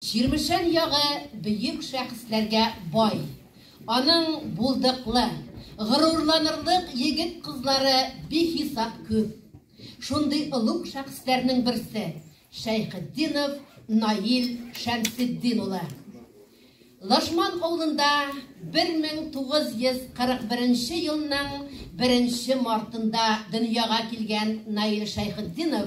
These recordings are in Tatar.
Чирмешән ягы бөек шәхесләргә бай. Аның булдыклы, горурланырлык егет-кызлары бихисап күп. Шундый олуг шәхесләрнең берсе, Шәйхетдинов Наил Шәмсетдин улы. Лашман авылында 1941 елның беренче мартында дөньяга килгән Наил Шәйхетдинов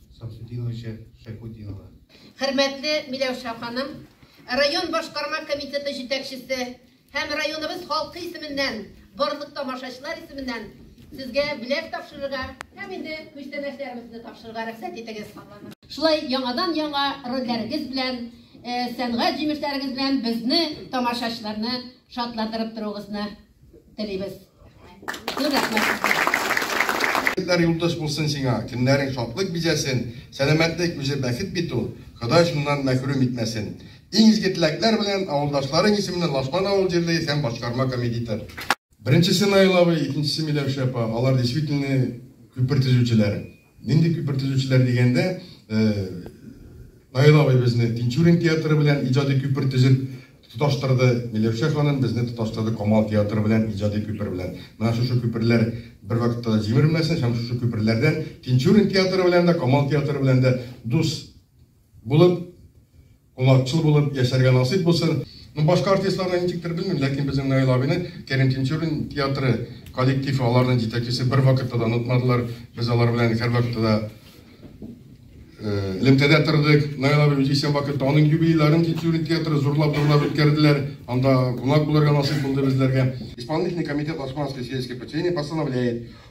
Самсудиновича Шәйхутдинова. Хөрмәтле Миләүшә ханым, район башкарма комитеты җитәкчесе һәм районыбыз халкы исеменнән, барлык тамашачылар исеменнән сезгә бүләк тапшырырга һәм инде күчтәнәчләребезне тапшырырга рөхсәт итегез. Шулай яңадан яңа рольләрегез белән, сәнгать җимешләрегез белән безне, тамашачыларны шатландырып торуыгызны телибез. Зур рәхмәт. Көннәр юлдыз булсын сиңа, көннәрең шатлык бизәсен, сәламәтлек үзе бәхет бит ул, Ходай шуннан мәхрүм итмәсен. Иң изге теләкләр белән, авылдашларың исеменнән Лашман авыл җирлеге һәм башкарма комедитор. Беренчесе Наил абый, икенчесе Миләүшә апа, алар действительно күпер төзүчеләр. Нинди күпер төзүчеләр дигәндә, Наил абый безне Тинчурин театры белән иҗади күпер төзеп тоташтырды, Миләүшә ханым безне тоташтырды Камал театры белән иҗади күпер белән. Менә шушы күперләр бервакытта да җимерелмәсен һәм шушы күперләрдән Тинчурин театры белән дә, Камал театры белән дә дус булып, Кунакчыл булып яшәргә насыйп булсын. Ну башка артистларны ничектер белмим, ләкин безнең Наил абыйны Кәрим Тинчурин театры коллектив, аларның җитәкчесе бер вакытта да онытмадылар. Без алар белән һәрвакытта да элемтәдә тордык. Наил абый үзе исән вакытта аның юбилейларын Тинчурин театры зурлап зурлап үткәрделәр. Анда кунак булырга насыйп булды безләргә. Исполнительный комитет Османской сельской поселения постановляет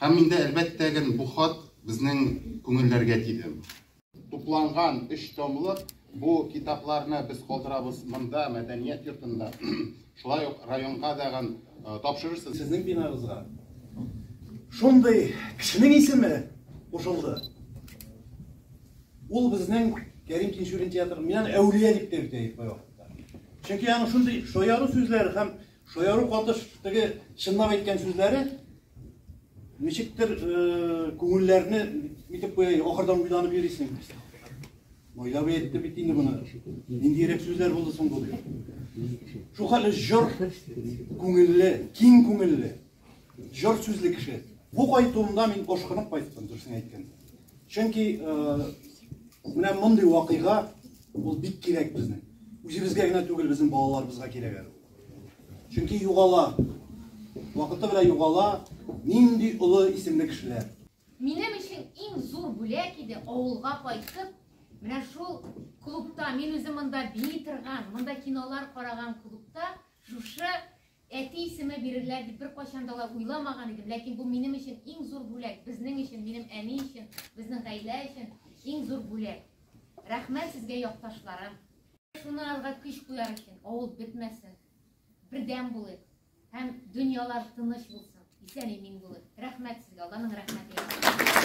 Һәм инде, әлбәттә ген, бу хат безнең күңелләргә тиде. Тупланган өч томлык бу китапларны без калдырабыз монда, мәдәният йортында. Шулай ук районга дагын тапшырырсыз. Сезнең бинагызга шундый кешенең исеме кушылды. Ул безнең Кәрим Тинчурин театрын мин аны әүлия дип тә йөртәм кайвакытта. Чөнки аның шундый шаяру сүзләре һәм Шаяру катыш теге чынлап әйткән сүзләре ничектер күңелләрне нитеп куя, ахырдан уйланып йөрисең. Мойлап әйтте бит инде моны. Ниндирәк сүзләр булды соң бу? Шул хәле җыр күңелле, киң күңелле, җыр сүзле кеше. Бу кайтуымда мин ошкынып кайттым, дөресен әйткәндә. Чөнки менә мондый вакыйга ул бик кирәк безнең. Үзебезгә генә түгел, безнең балаларыбызга кирәк әле. Чөнки югала. Вакыты белән югала нинди олы исемле кешеләр. Минем өчен иң зур бүләк иде авылга кайтып, менә шул клубта, мин үзем монда бии торган, монда кинолар караган клубта шушы әти исеме бирерләр дип беркайчан да уйламаган идем, ләкин бу минем өчен иң зур бүләк, безнең өчен, минем әни өчен, безнең гаилә өчен иң зур бүләк. Рәхмәт сезгә, якташларым. Шуны алга көч куяр өчен авыл бетмәсен, бердәм булыйк һәм дөньялар тыныч булсын, исән-имин булыйк. Рәхмәт сезгә, Алланың рәхмәте.